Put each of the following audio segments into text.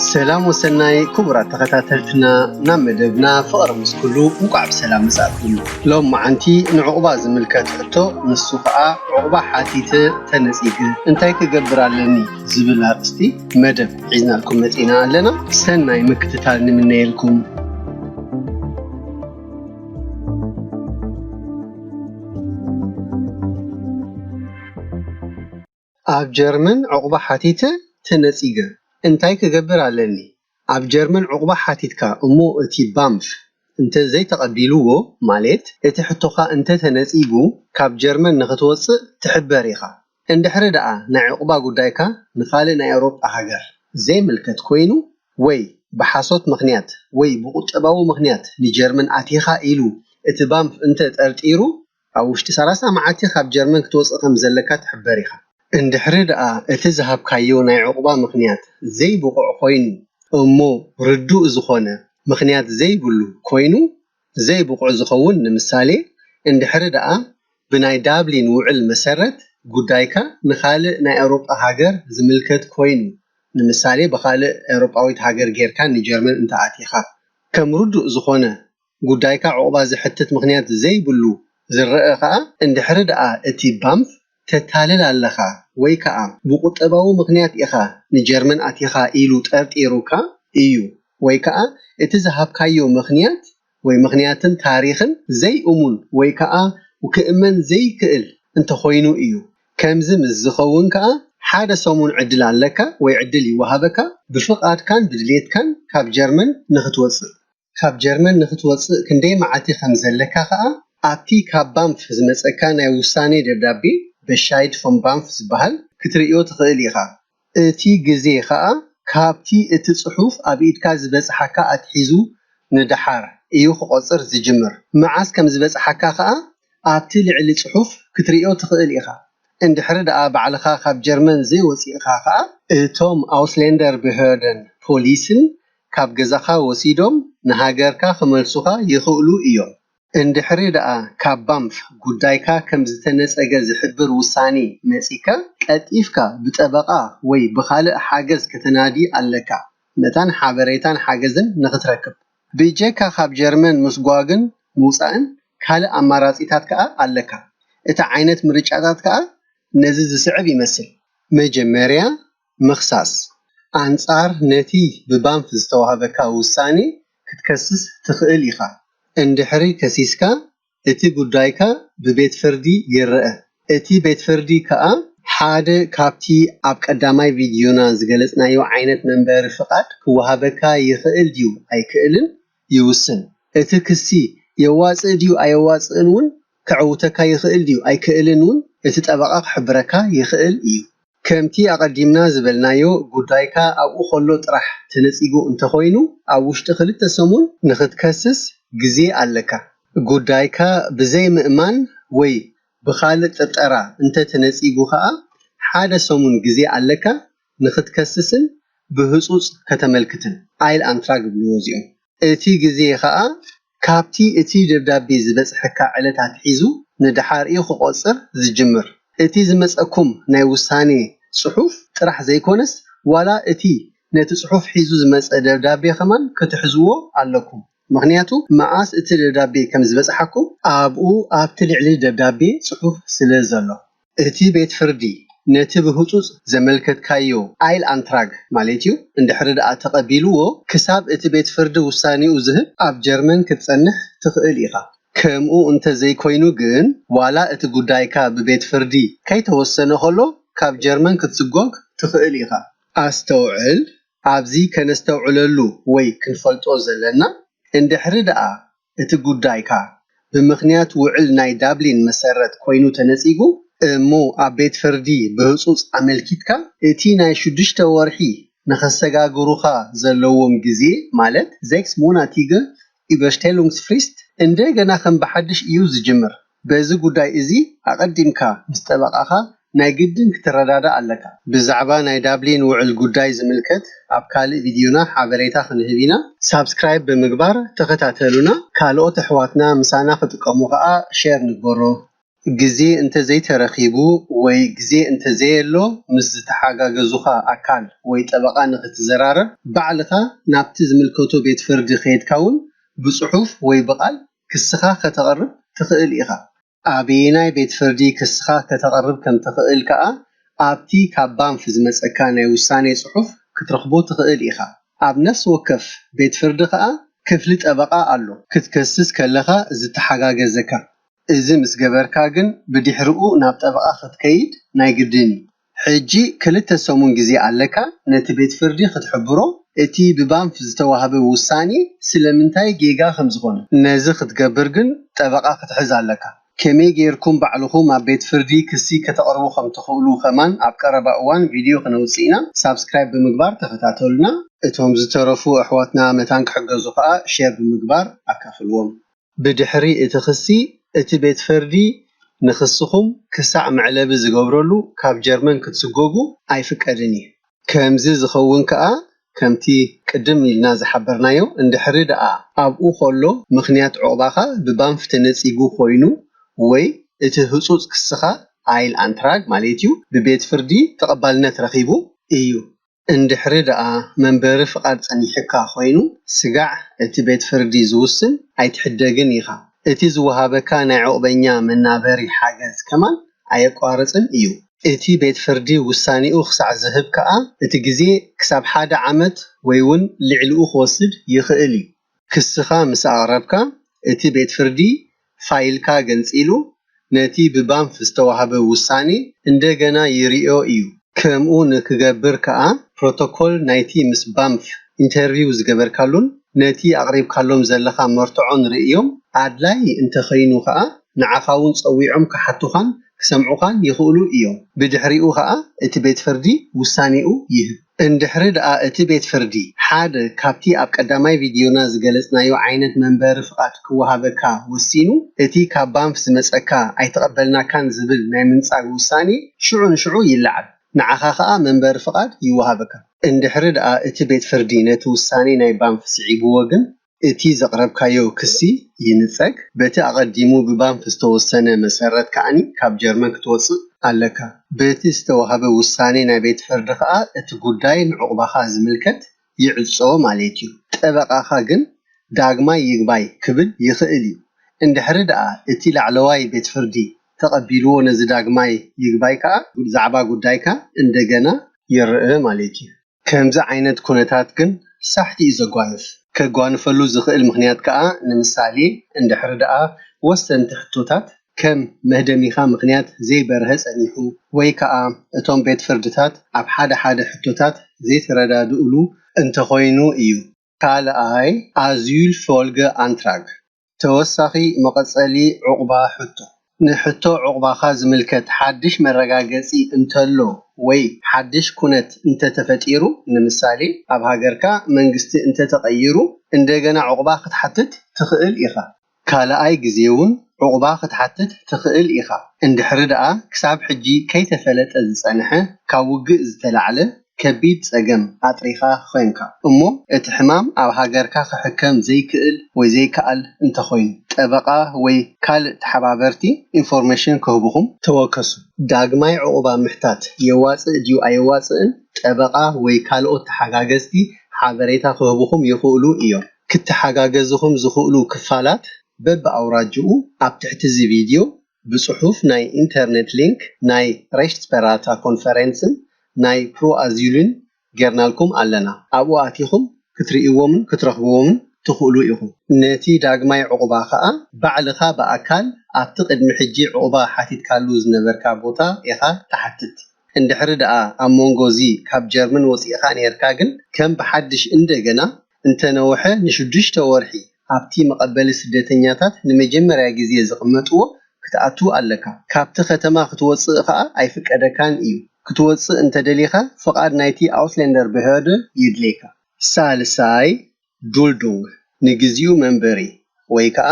ሰላም ወሰናይ ክቡራት ተኸታተልትና ናብ መደብና ፍቕሪ ምስ ኩሉ እንቋዕ ብሰላም መጻእኩም። ሎም መዓንቲ ንዑቕባ ዝምልከት ሕቶ ንሱ ከኣ ዑቕባ ሓቲተ ተነጺገ እንታይ ክገብር ኣለኒ ዝብል ኣርእስቲ መደብ ሒዝናልኩም መጺእና ኣለና። ሰናይ ምክትታል ንምነየልኩም። ኣብ ጀርመን ዑቕባ ሓቲተ ተነጺገ እንታይ ክገብር ኣለኒ? ኣብ ጀርመን ዑቕባ ሓቲትካ እሞ እቲ ባምፍ እንተ ዘይተቐቢሉዎ ማሌት እቲ ሕቶኻ እንተ ተነጺጉ ካብ ጀርመን ንኽትወጽእ ትሕበር ኢኻ። እንድሕሪ ደኣ ናይ ዑቕባ ጉዳይካ ንኻልእ ናይ ኤውሮጳ ሃገር ዘይምልከት ኮይኑ ወይ ብሓሶት ምኽንያት ወይ ብቁጠባዊ ምኽንያት ንጀርመን ኣቲኻ ኢሉ እቲ ባምፍ እንተ ጠርጢሩ ኣብ ውሽጢ ሰላሳ መዓልቲ ካብ ጀርመን ክትወጽእ ከም ዘለካ ትሕበር ኢኻ። እንድሕሪ ደኣ እቲ ዝሃብካዮ ናይ ዑቕባ ምኽንያት ዘይብቑዕ ኮይኑ እሞ ርዱእ ዝኾነ ምኽንያት ዘይብሉ ኮይኑ፣ ዘይብቑዕ ዝኸውን ንምሳሌ እንድሕሪ ደኣ ብናይ ዳብሊን ውዕል መሰረት ጉዳይካ ንኻልእ ናይ ኤውሮጳ ሃገር ዝምልከት ኮይኑ ንምሳሌ ብኻልእ ኤውሮጳዊት ሃገር ጌርካ ንጀርመን እንተኣቲኻ ከም ርዱእ ዝኾነ ጉዳይካ ዑቕባ ዘሕትት ምኽንያት ዘይብሉ ዝረኣ ከኣ እንድሕሪ ደኣ እቲ ባንፍ ተታልል ኣለኻ ወይ ከኣ ብቁጠባዊ ምኽንያት ኢኻ ንጀርመን ኣቲኻ ኢሉ ጠርጢሩካ እዩ ወይ ከኣ እቲ ዝሃብካዮ ምኽንያት ወይ ምኽንያትን ታሪኽን ዘይእሙን ወይ ከኣ ክእመን ዘይክእል እንተኾይኑ እዩ። ከምዚ ምስ ዝኸውን ከኣ ሓደ ሰሙን ዕድል ኣለካ ወይ ዕድል ይወሃበካ ብፍቓድካን ብድሌትካን ካብ ጀርመን ንኽትወጽእ። ካብ ጀርመን ንኽትወጽእ ክንደይ መዓልቲ ከም ዘለካ ከኣ፣ ኣብቲ ካብ ባንፍ ዝመጸካ ናይ ውሳኔ ደብዳቤ፣ Bescheid vom BAMF፣ ዝበሃል ክትርእዮ ትኽእል ኢኻ። እቲ ግዜ ከኣ ካብቲ እቲ ጽሑፍ ኣብ ኢድካ ዝበጽሓካ ኣትሒዙ ንደሓር እዩ ክቖጽር ዝጅምር። መዓስ ከም ዝበጽሓካ ከኣ ኣብቲ ልዕሊ ጽሑፍ ክትርእዮ ትኽእል ኢኻ። እንድሕሪ ደኣ ባዕልኻ ካብ ጀርመን ዘይወጺእካ ከኣ፣ እቶም Ausländerbehörden፣ ፖሊስን ካብ ገዛኻ ወሲዶም ንሃገርካ ክመልሱኻ ይኽእሉ እዮም። እንድሕሪ ደኣ ካብ ባምፍ ጉዳይካ ከም ዝተነጸገ ዝሕብር ውሳኔ መጺካ፣ ቀልጢፍካ ብጠበቓ ወይ ብኻልእ ሓገዝ ከተናዲ ኣለካ፣ መታን ሓበሬታን ሓገዝን ንኽትረክብ። ብጀካ ካብ ጀርመን ምስጓግን ምውጻእን ካልእ ኣማራጺታት ከኣ ኣለካ። እቲ ዓይነት ምርጫታት ከኣ ነዚ ዝስዕብ ይመስል። መጀመርያ ምኽሳስ፣ ኣንጻር ነቲ ብባንፍ ዝተዋህበካ ውሳኔ ክትከስስ ትኽእል ኢኻ። እንድሕሪ ከሲስካ፣ እቲ ጉዳይካ ብቤት ፍርዲ ይረኣ። እቲ ቤት ፍርዲ ከኣ ሓደ ካብቲ ኣብ ቀዳማይ ቪድዮና ዝገለጽናዮ ዓይነት መንበሪ ፍቓድ ክወሃበካ ይኽእል ድዩ ኣይክእልን ይውስን። እቲ ክሲ የዋጽእ ድዩ ኣየዋጽእን ውን ከዕውተካ ይኽእል ድዩ ኣይክእልን ውን እቲ ጠበቓ ክሕብረካ ይኽእል እዩ። ከምቲ ኣቐዲምና ዝበልናዮ ጉዳይካ ኣብኡ ከሎ ጥራሕ ተነጺጉ እንተኾይኑ ኣብ ውሽጢ ክልተ ሰሙን ንኽትከስስ ግዜ ኣለካ። ጉዳይካ ብዘይ ምእማን ወይ ብኻልእ ጥርጠራ እንተተነጺጉ ከኣ ሓደ ሰሙን ግዜ ኣለካ ንክትከስስን ብህጹጽ ከተመልክትን ኣይል ኣንትራግ እብልዎ እዚኦም። እቲ ግዜ ከኣ ካብቲ እቲ ደብዳቤ ዝበጽሐካ ዕለት ኣትሒዙ ንደሓር እዩ ክቆጽር ዝጅምር። እቲ ዝመጸኩም ናይ ውሳኔ ጽሑፍ ጥራሕ ዘይኮነስ ዋላ እቲ ነቲ ጽሑፍ ሒዙ ዝመጸ ደብዳቤ ከማን ክትሕዝዎ ኣለኩም። ምክንያቱ መኣስ እቲ ደብዳቤ ከም ዝበጽሓኩም ኣብኡ ኣብቲ ልዕሊ ደብዳቤ ጽሑፍ ስለ ዘሎ። እቲ ቤት ፍርዲ ነቲ ብህጹጽ ዘመልከትካዮ ኣይል-ኣንትራግ ማሌት'ዩ እንድሕሪ ደኣ ተቐቢሉዎ ክሳብ እቲ ቤት ፍርዲ ውሳኔኡ ዝህብ ኣብ ጀርመን ክትጸንሕ ትኽእል ኢኻ። ከምኡ እንተ ዘይኮይኑ ግን ዋላ እቲ ጉዳይካ ብቤት ፍርዲ ከይተወሰነ ከሎ ካብ ጀርመን ክትስጎግ ትኽእል ኢኻ። ኣስተውዕል፣ ኣብዚ ከነስተውዕለሉ ወይ ክንፈልጦ ዘለና እንድሕሪ ደኣ እቲ ጉዳይካ ብምኽንያት ውዕል ናይ ዳብሊን መሰረት ኮይኑ ተነጺጉ እሞ ኣብ ቤት ፍርዲ ብህጹጽ ኣመልኪትካ እቲ ናይ ሽዱሽተ ወርሒ ንኸሰጋግሩኻ ዘለዎም ግዜ ማለት ዜክስ ሞናቲገ ኢበርሽቴሉንግስፍሪስት እንደገና ከም ብሓድሽ እዩ ዝጅምር። በዚ ጉዳይ እዚ ኣቐዲምካ ምስ ጠበቓኻ ናይ ግድን ክትረዳዳእ ኣለካ። ብዛዕባ ናይ ዳብሊን ውዕል ጉዳይ ዝምልከት ኣብ ካልእ ቪድዮና ሓበሬታ ክንህብ ኢና። ሳብስክራይብ ብምግባር ተኸታተሉና፣ ካልኦት ኣሕዋትና ምሳና ክጥቀሙ ከኣ ሼር ንግበሮ። ግዜ እንተ ዘይተረኺቡ ወይ ግዜ እንተ ዘየሎ ምስ ዝተሓጋገዙኻ ኣካል ወይ ጠበቓ ንኽትዘራረብ ባዕልኻ ናብቲ ዝምልከቶ ቤት ፍርዲ ከይድካ ውን ብጽሑፍ ወይ ብቓል ክስኻ ከተቕርብ ትኽእል ኢኻ። ኣበየናይ ቤት ፍርዲ ክስኻ ከተቕርብ ከም ትኽእል ከኣ ኣብቲ ካብ ባንፍ ዝመጸካ ናይ ውሳኔ ጽሑፍ ክትረኽቦ ትኽእል ኢኻ። ኣብ ነፍሲ ወከፍ ቤት ፍርዲ ከኣ ክፍሊ ጠበቓ ኣሎ፣ ክትከስስ ከለኻ ዝተሓጋገዘካ። እዚ ምስ ገበርካ ግን ብድሕረኡ ናብ ጠበቓ ክትከይድ ናይ ግድን እዩ። ሕጂ ክልተ ሰሙን ግዜ ኣለካ ነቲ ቤት ፍርዲ ክትሕብሮ እቲ ብባንፍ ዝተዋህበ ውሳኔ ስለምንታይ ጌጋ ከም ዝኾነ። ነዚ ክትገብር ግን ጠበቓ ክትሕዝ ኣለካ። ከመይ ጌርኩም ባዕልኹም ኣብ ቤት ፍርዲ ክሲ ከተቕርቡ ከም ትኽእሉ ከማን ኣብ ቀረባ እዋን ቪድዮ ክነውጽእ ኢና። ሳብስክራይብ ብምግባር ተኸታተሉና። እቶም ዝተረፉ ኣሕዋትና መታን ክሕገዙ ከኣ ሼር ብምግባር ኣካፍልዎም። ብድሕሪ እቲ ክሲ፣ እቲ ቤት ፈርዲ ንክስኹም ክሳዕ መዕለቢ ዝገብረሉ ካብ ጀርመን ክትስጎጉ ኣይፍቀድን እዩ። ከምዚ ዝኸውን ከኣ ከምቲ ቅድም ኢልና ዝሓበርናዮ፣ እንድሕሪ ደኣ ኣብኡ ከሎ ምኽንያት ዑቕባኻ ብባንፍ ተነጺጉ ኮይኑ ወይ እቲ ህጹጽ ክስኻ፣ Eilantrag፣ ማለት'ዩ ብቤት ፍርዲ ተቐባልነት ረኺቡ እዩ። እንድሕሪ ደኣ መንበሪ ፍቓድ ጸኒሑካ ኮይኑ ስጋዕ እቲ ቤት ፍርዲ ዝውስን ኣይትሕደግን ኢኻ። እቲ ዝወሃበካ ናይ ዑቕበኛ መናበሪ ሓገዝ ከማን ኣየቋርጽን እዩ። እቲ ቤት ፍርዲ ውሳኔኡ ክሳዕ ዝህብ ከኣ እቲ ግዜ ክሳብ ሓደ ዓመት ወይውን ልዕሊኡ ክወስድ ይኽእል እዩ። ክስኻ ምስ ኣቕረብካ፣ እቲ ቤት ፍርዲ ፋይልካ ገንጺሉ ነቲ ብባንፍ ዝተዋህበ ውሳኔ እንደገና ይርእዮ እዩ። ከምኡ ንክገብር ከኣ ፕሮቶኮል ናይቲ ምስ ባንፍ ኢንተርቪው ዝገበርካሉን ነቲ ኣቕሪብካሎም ዘለኻ መርትዖን ርእዮም ኣድላዪ እንተኸይኑ ከኣ ንዓኻ'ውን ጸዊዖም ክሓቱኻን ክሰምዑኻን ይኽእሉ እዮም። ብድሕሪኡ ከኣ እቲ ቤት ፍርዲ ውሳኔኡ ይህብ። እንድሕሪ ደኣ እቲ ቤት ፍርዲ፣ ሓደ ካብቲ ኣብ ቀዳማይ ቪድዮና ዝገለጽናዮ ዓይነት መንበሪ ፍቓድ ክወሃበካ ወሲኑ፣ እቲ ካብ ባንፍ ዝመጸካ ኣይተቐበልናካን ዝብል ናይ ምንጻግ ውሳኔ ሽዑ ንሽዑ ይለዓል። ንዓኻ ከኣ መንበሪ ፍቓድ ይወሃበካ። እንድሕሪ ደኣ እቲ ቤት ፍርዲ ነቲ ውሳኔ ናይ ባንፍ ስዒብዎ ግን፣ እቲ ዘቕረብካዮ ክሲ ይንጸግ፣ በቲ ኣቐዲሙ ብባንፍ ዝተወሰነ መሰረት ከኣ ካብ ጀርመን ክትወጽእ ኣለካ። በቲ ዝተዋህበ ውሳኔ ናይ ቤት ፍርዲ ከኣ እቲ ጉዳይ ንዑቕባኻ ዝምልከት ይዕጾ ማሌት እዩ። ጠበቓኻ ግን ዳግማይ ይግባይ ክብል ይኽእል እዩ። እንድሕሪ ደኣ እቲ ላዕለዋይ ቤት ፍርዲ ተቐቢልዎ ነዚ ዳግማይ ይግባይ ከኣ ዛዕባ ጉዳይካ እንደገና ይርእ ማሌት እዩ። ከምዚ ዓይነት ኩነታት ግን ሳሕቲ እዩ ዘጓንፍ። ከጓንፈሉ ዝኽእል ምኽንያት ከኣ ንምሳሌ እንድሕሪ ደኣ ወሰንቲ ሕቶታት ከም መህደሚኻ ምኽንያት ዘይበርሀ ጸኒሑ ወይ ከኣ እቶም ቤት ፍርድታት ኣብ ሓደ ሓደ ሕቶታት ዘይተረዳድእሉ እንተኾይኑ እዩ። ካልኣይ ኣዙይል ፎልገ ኣንትራግ፣ ተወሳኺ መቐጸሊ ዑቕባ ሕቶ፣ ንሕቶ ዑቕባኻ ዝምልከት ሓድሽ መረጋገጺ እንተሎ ወይ ሓድሽ ኩነት እንተተፈጢሩ፣ ንምሳሌ ኣብ ሃገርካ መንግስቲ እንተተቐይሩ፣ እንደገና ዑቕባ ክትሓትት ትኽእል ኢኻ። ካልኣይ ግዜ'ውን ዑቕባ ክትሓትት ትኽእል ኢኻ፣ እንድሕሪ ደኣ ክሳብ ሕጂ ከይተፈለጠ ዝጸንሐ ካብ ውግእ ዝተላዕለ ከቢድ ጸገም ኣጥሪኻ ዄንካ እሞ እቲ ሕማም ኣብ ሃገርካ ክሕከም ዘይክእል ወይ ዘይከኣል እንተኾይኑ ጠበቓ ወይ ካልእ ተሓባበርቲ ኢንፎርሜሽን ክህቡኹም ተወከሱ። ዳግማይ ዑቕባ ምሕታት የዋጽእ ድዩ ኣየዋጽእን ጠበቓ ወይ ካልኦት ተሓጋገዝቲ ሓበሬታ ክህቡኹም ይኽእሉ እዮም። ክተሓጋገዝኹም ዝኽእሉ ክፋላት በቢ ኣውራጅኡ ኣብ ትሕቲ እዚ ቪድዮ ብጽሑፍ ናይ ኢንተርኔት ሊንክ ናይ Rechtsberater ኮንፈረንስን ናይ Proasyl-ን ጌርናልኩም ኣለና። ኣብኡ ኣቲኹም ክትርእይዎምን ክትረኽብዎምን ትኽእሉ ኢኹም። ነቲ ዳግማይ ዑቕባ ከኣ ባዕልኻ ብኣካል ኣብቲ ቅድሚ ሕጂ ዑቕባ ሓቲትካሉ ዝነበርካ ቦታ ኢኻ ትሓትት። እንድሕሪ ደኣ ኣብ መንጎ እዚ ካብ ጀርመን ወጺእኻ ኔርካ ግን ከም ብሓድሽ እንደገና እንተነውሐ ንሽዱሽተ ወርሒ ኣብቲ መቐበሊ ስደተኛታት ንመጀመርያ ግዜ ዝቕመጥዎ ክትኣቱ ኣለካ። ካብቲ ከተማ ክትወጽእ ከኣ ኣይፍቀደካን እዩ። ክትወጽእ እንተደሊኻ ፍቓድ ናይቲ Ausländerbehörde የድልየካ። ሳልሳይ፣ Duldung፣ ንግዝዩ መንበሪ ወይ ከኣ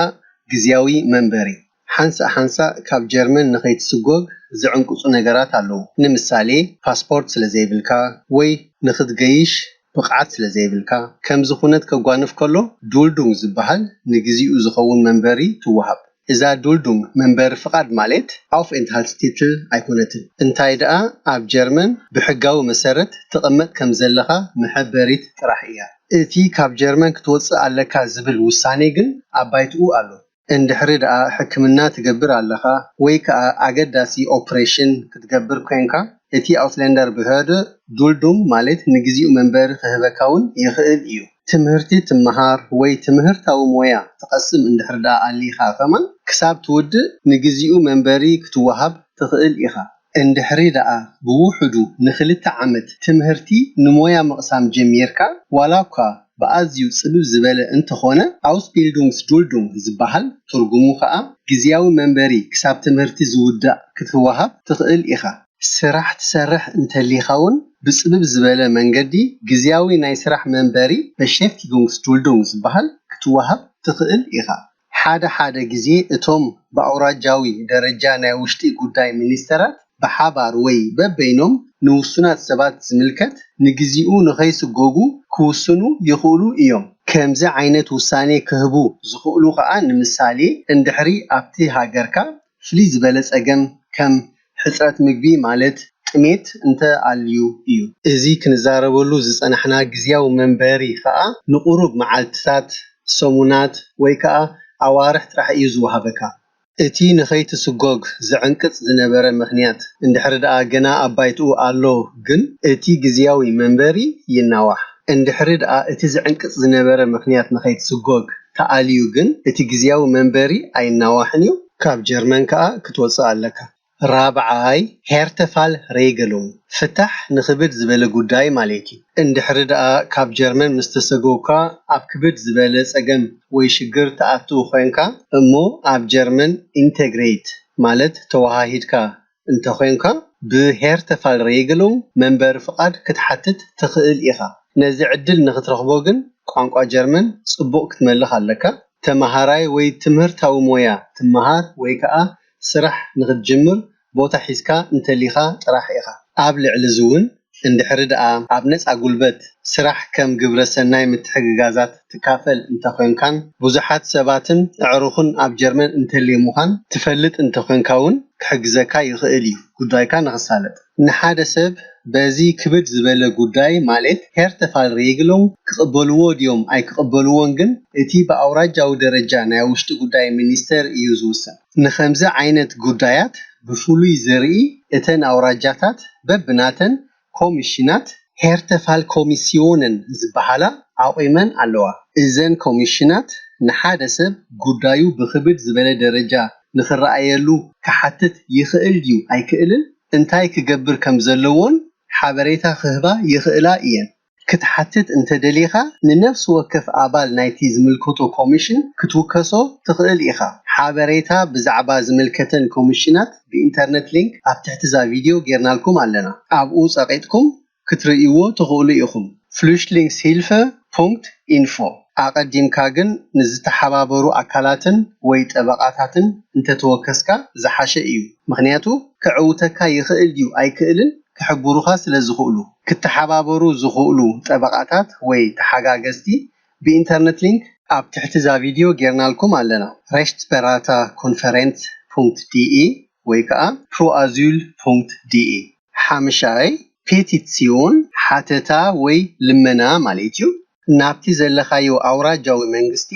ግዝያዊ መንበሪ። ሓንሳእ ሓንሳእ ካብ ጀርመን ንኸይትስጐግ ዝዕንቅጹ ነገራት ኣለዉ፣ ንምሳሌ ፓስፖርት ስለ ዘይብልካ ወይ ንኽትገይሽ ብቕዓት ስለ ዘይብልካ። ከምዚ ኵነት ከጓንፍ ከሎ ዱልዱንግ ዝበሃል ንግዜኡ ዝኸውን መንበሪ ትወሃብ። እዛ ዱልዱንግ፣ መንበሪ ፍቓድ ማሌት ኣውፍኤንትሃልትስቲትል፣ ኣይኰነትን፣ እንታይ ደኣ ኣብ ጀርመን ብሕጋዊ መሰረት ትቕመጥ ከም ዘለኻ መሐበሪት ጥራሕ እያ። እቲ ካብ ጀርመን ክትወጽእ ኣለካ ዝብል ውሳኔ ግን ኣብ ባይትኡ ኣሎ። እንድሕሪ ደኣ ሕክምና ትገብር ኣለኻ ወይ ከኣ ኣገዳሲ ኦፕሬሽን ክትገብር ኰንካ፣ እቲ ኣውስለንደርብህርደ ዱልዱም ማለት ንግዜኡ መንበሪ ክህበካ ውን ይኽእል እዩ። ትምህርቲ ትመሃር ወይ ትምህርታዊ ሞያ ትቐስም እንድሕሪ ደኣ ኣሊኻ ከማን ክሳብ ትውድእ ንግዜኡ መንበሪ ክትወሃብ ትኽእል ኢኻ። እንድሕሪ ደኣ ብውሑዱ ንክልተ ዓመት ትምህርቲ ንሞያ ምቕሳም ጀሚርካ፣ ዋላኳ ብኣዝዩ ጽብብ ዝበለ እንተኾነ፣ Ausbildungsduldung ዝበሃል፣ ትርጉሙ ከኣ ግዝያዊ መንበሪ ክሳብ ትምህርቲ ዝውዳእ ክትወሃብ ትኽእል ኢኻ። ስራሕ ትሰርሕ እንተሊኻውን ብጽብብ ዝበለ መንገዲ ግዝያዊ ናይ ስራሕ መንበሪ፣ Beschäftigungsduldung ዝበሃል፣ ክትወሃብ ትኽእል ኢኻ። ሓደ ሓደ ግዜ እቶም ብኣውራጃዊ ደረጃ ናይ ውሽጢ ጉዳይ ሚኒስተራት ብሓባር ወይ በበይኖም ንውሱናት ሰባት ዝምልከት ንግዚኡ ንኸይስጎጉ ክውስኑ ይኽእሉ እዮም። ከምዚ ዓይነት ውሳኔ ክህቡ ዝኽእሉ ከኣ ንምሳሌ እንድሕሪ ኣብቲ ሃገርካ ፍልይ ዝበለ ፀገም ከም ሕፅረት ምግቢ ማለት ጥሜት እንተ ኣልዩ እዩ። እዚ ክንዛረበሉ ዝፀናሕና ግዝያዊ መንበሪ ከዓ ንቑሩብ መዓልትታት፣ ሰሙናት ወይ ከዓ ኣዋርሕ ጥራሕ እዩ ዝወሃበካ። እቲ ንኸይትስጎግ ዝዕንቅፅ ዝነበረ ምኽንያት እንድሕሪ ደኣ ገና ኣብ ባይትኡ ኣሎ ግን እቲ ግዝያዊ መንበሪ ይናዋሕ። እንድሕሪ ደኣ እቲ ዝዕንቅጽ ዝነበረ ምኽንያት ንኸይትስጎግ ተኣልዩ ግን እቲ ግዝያዊ መንበሪ ኣይናዋሕን እዩ። ካብ ጀርመን ከኣ ክትወጽእ ኣለካ። ራብዓይ፣ ሄርተፋል ሬገሉንግ፣ ፍታሕ ንክብድ ዝበለ ጉዳይ ማሌት እዩ። እንድሕሪ ደኣ ካብ ጀርመን ምስ ተሰጎግካ ኣብ ክብድ ዝበለ ጸገም ወይ ሽግር ትኣትው ኮንካ እሞ ኣብ ጀርመን ኢንተግሬት ማለት ተወሃሂድካ እንተዄንካ፣ ብ'ሄርተፋልሬግሉንግ' መንበሪ ፍቓድ ክትሓትት ትኽእል ኢኻ። ነዚ ዕድል ንኽትረኽቦ ግን ቋንቋ ጀርመን ጽቡቕ ክትመልኽ ኣለካ። ተመሃራይ ወይ ትምህርታዊ ሞያ ትመሃር ወይ ከኣ ስራሕ ንኽትጅምር ቦታ ሒዝካ እንተሊኻ ጥራሕ ኢኻ። ኣብ ልዕሊ'ዚ'ውን፣ እንድሕሪ ድኣ ኣብ ነጻ ጉልበት ስራሕ ከም ግብረ ሰናይ ምትሕግጋዛት ትካፈል እንተኮንካን ብዙሓት ሰባትን ኣዕሩኽን ኣብ ጀርመን እንተሌሙኻን ትፈልጥ እንተኮንካ ውን ክሕግዘካ ይኽእል እዩ ጉዳይካ ንኽሳለጥ። ንሓደ ሰብ በዚ ክብድ ዝበለ ጉዳይ ማሌት Härtefallregelung ክቕበልዎ ድዮም ኣይክቕበልዎን ግን እቲ ብኣውራጃዊ ደረጃ ናይ ውሽጢ ጉዳይ ሚኒስተር እዩ ዝውሰን። ንኸምዚ ዓይነት ጉዳያት ብፍሉይ ዝርኢ እተን ኣውራጃታት በብናተን ኮሚሽናት፣ Härtefallkommissionen፣ ዝበሃላ ኣቑመን ኣለዋ። እዘን ኮሚሽናት ንሓደ ሰብ ጉዳዩ ብኽብድ ዝበለ ደረጃ ንኽረኣየሉ ክሓትት ይኽእል ድዩ ኣይክእልን እንታይ ክገብር ከም ዘለዎን ሓበሬታ ክህባ ይኽእላ እየን። ክትሓትት እንተ ደሊኻ፣ ንነፍሲ ወከፍ ኣባል ናይቲ ዝምልከቶ ኮሚሽን ክትውከሶ ትኽእል ኢኻ። ሓበሬታ ብዛዕባ ዝምልከተን ኮሚሽናት ብኢንተርነት ሊንክ ኣብ ትሕቲ እዛ ቪድዮ ጌርናልኩም ኣለና። ኣብኡ ጸቒጥኩም ክትርእይዎ ትኽእሉ ኢኹም፣ Flüchtlingshilfe Punkt Info። ኣቐዲምካ ግን ንዝተሓባበሩ ኣካላትን ወይ ጠበቓታትን እንተ ተወከስካ ዝሓሸ እዩ፣ ምኽንያቱ ከዕውተካ ይኽእል ድዩ ኣይክእልን ክሕብሩኻ ስለ ዝኽእሉ። ክተሓባበሩ ዝኽእሉ ጠበቓታት ወይ ተሓጋገዝቲ ብኢንተርነት ሊንክ ኣብ ትሕቲ እዛ ቪድዮ ጌርናልኩም ኣለና። Rechtsberater Konferenz ፑንክት ዲኢ ወይ ከኣ Proasyl ፑንክት ዲኢ። ሓምሻይ፣ ፔቲትስዮን፣ ሓተታ ወይ ልመና፣ ማለት እዩ። ናብቲ ዘለኻዮ ኣውራጃዊ መንግስቲ፣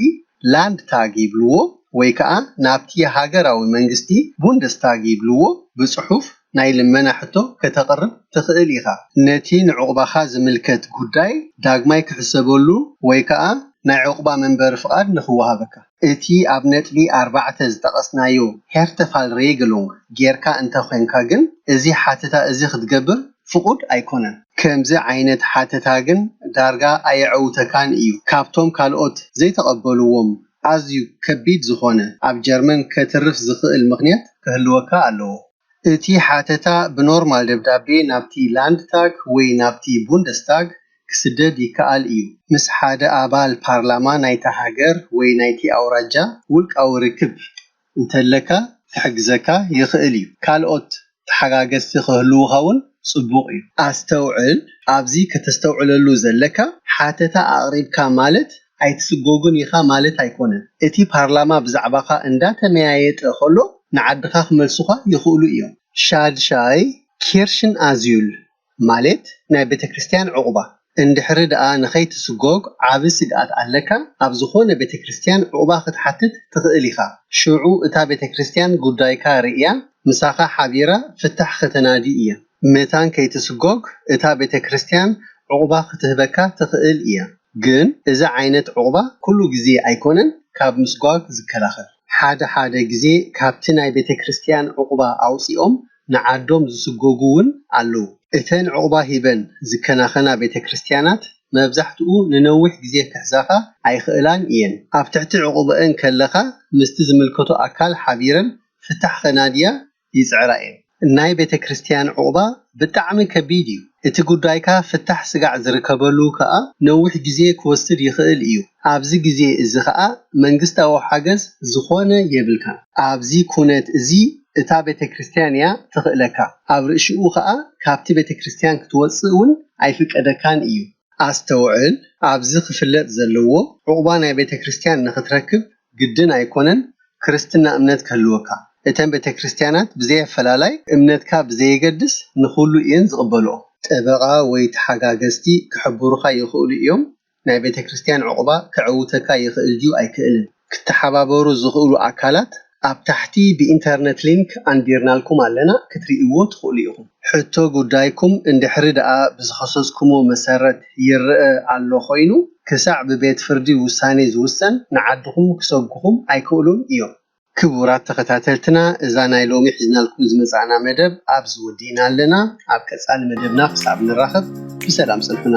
ላንድታግ ይብልዎ፣ ወይ ከኣ ናብቲ ሃገራዊ መንግስቲ፣ ቡንደስታግ ይብልዎ፣ ብጽሑፍ ናይ ልመና ሕቶ ከተቕርብ ትኽእል ኢኻ። ነቲ ንዑቕባኻ ዝምልከት ጉዳይ ዳግማይ ክሕሰበሉ ወይ ከኣ ናይ ዑቕባ መንበሪ ፍቓድ ንኽወሃበካ። እቲ ኣብ ነጥቢ ኣርባዕተ ዝጠቐስናዮ Härtefallregelung ጌርካ እንተ ዄንካ ግን፣ እዚ ሓተታ እዚ ኽትገብር ፍቑድ ኣይኰነን። ከምዚ ዓይነት ሓተታ ግን ዳርጋ ኣየዐውተካን እዩ። ካብቶም ካልኦት ዘይተቐበልዎም ኣዝዩ ከቢድ ዝዀነ ኣብ ጀርመን ከትርፍ ዝኽእል ምኽንያት ክህልወካ ኣለዎ። እቲ ሓተታ ብኖርማል ደብዳቤ ናብቲ ላንድታግ ወይ ናብቲ ቡንደስታግ ክስደድ ይከኣል እዩ። ምስ ሓደ ኣባል ፓርላማ ናይታ ሃገር ወይ ናይቲ ኣውራጃ ውልቃዊ ርክብ እንተለካ ክሕግዘካ ይኽእል እዩ። ካልኦት ተሓጋገዝቲ ክህልዉኻ እውን ጽቡቕ እዩ። ኣስተውዕል፣ ኣብዚ ከተስተውዕለሉ ዘለካ፣ ሓተታ ኣቕሪብካ ማለት ኣይትስጎግን ኢኻ ማለት ኣይኮነን። እቲ ፓርላማ ብዛዕባኻ እንዳተመያየጠ ከሎ ንዓድኻ ክመልሱኻ ይኽእሉ እዮም። ሻድሻይ፣ ኪርሽን ኣዙይል ማሌት ናይ ቤተክርስትያን ዑቕባ፣ እንድሕሪ ደኣ ንኸይትስጎግ ዓቢ ስግኣት ኣለካ ኣብ ዝኾነ ቤተክርስትያን ዑቕባ ክትሓትት ትኽእል ኢኻ። ሽዑ እታ ቤተክርስትያን ጉዳይካ ርእያ ምሳኻ ሓቢራ ፍታሕ ከተናዲ እያ። መታን ከይትስጎግ እታ ቤተክርስትያን ዑቕባ ክትህበካ ትኽእል እያ። ግን እዚ ዓይነት ዑቕባ ኩሉ ግዜ ኣይኮነን ካብ ምስጓግ ዝከላኸል። ሓደ ሓደ ግዜ ካብቲ ናይ ቤተክርስትያን ዑቕባ ኣውጺኦም ንዓዶም ዝስጎጉ ውን ኣለዉ። እተን ዑቕባ ሂበን ዝከናኸና ቤተክርስትያናት መብዛሕትኡ ንነዊሕ ግዜ ክሕዛኻ ኣይኽእላን እየን። ኣብ ትሕቲ ዑቕበእን ከለኻ ምስቲ ዝምልከቶ ኣካል ሓቢረን ፍታሕ ኸናድያ ይጽዕራ እየን። ናይ ቤተክርስትያን ዑቕባ ብጣዕሚ ከቢድ እዩ። እቲ ጉዳይካ ፍታሕ ስጋዕ ዝርከበሉ ከኣ ነዊሕ ግዜ ክወስድ ይኽእል እዩ። ኣብዚ ግዜ እዚ ከኣ መንግስታዊ ሓገዝ ዝኾነ የብልካን። ኣብዚ ኩነት እዚ እታ ቤተክርስትያን እያ ትኽእለካ። ኣብ ርእሽኡ ከኣ ካብቲ ቤተክርስትያን ክትወጽእ እውን ኣይፍቀደካን እዩ። ኣስተውዕል፣ ኣብዚ ክፍለጥ ዘለዎ ዑቕባ ናይ ቤተክርስትያን ንኽትረክብ ግድን ኣይኮነን ክርስትና እምነት ክህልወካ። እተን ቤተክርስትያናት ብዘይ ኣፈላላይ እምነትካ ብዘየገድስ ንኹሉ እየን ዝቕበልኦ። ጠበቓ ወይ ተሓጋገዝቲ ክሕብሩኻ ይኽእሉ እዮም፣ ናይ ቤተክርስትያን ዑቕባ ከዕውተካ ይኽእል ድዩ ኣይክእልን። ክተሓባበሩ ዝኽእሉ ኣካላት ኣብ ታሕቲ ብኢንተርነት ሊንክ ኣንቢርናልኩም ኣለና ክትርእይዎ ትኽእሉ ኢኹም። ሕቶ ጉዳይኩም እንድሕሪ ደኣ ብዝኸሰስኩሞ መሰረት ይረኣ ኣሎ ኮይኑ ክሳዕ ብቤት ፍርዲ ውሳኔ ዝውሰን ንዓድኹም ክሰጉኹም ኣይክእሉን እዮም። ክቡራት ተኸታተልትና እዛ ናይ ሎሚ ሒዝናልኩም ዝመጻእና መደብ ኣብዚ ወዲእና ኣለና። ኣብ ቀጻሊ መደብና ክሳብ ንራኸብ ብሰላም ጽንሑና።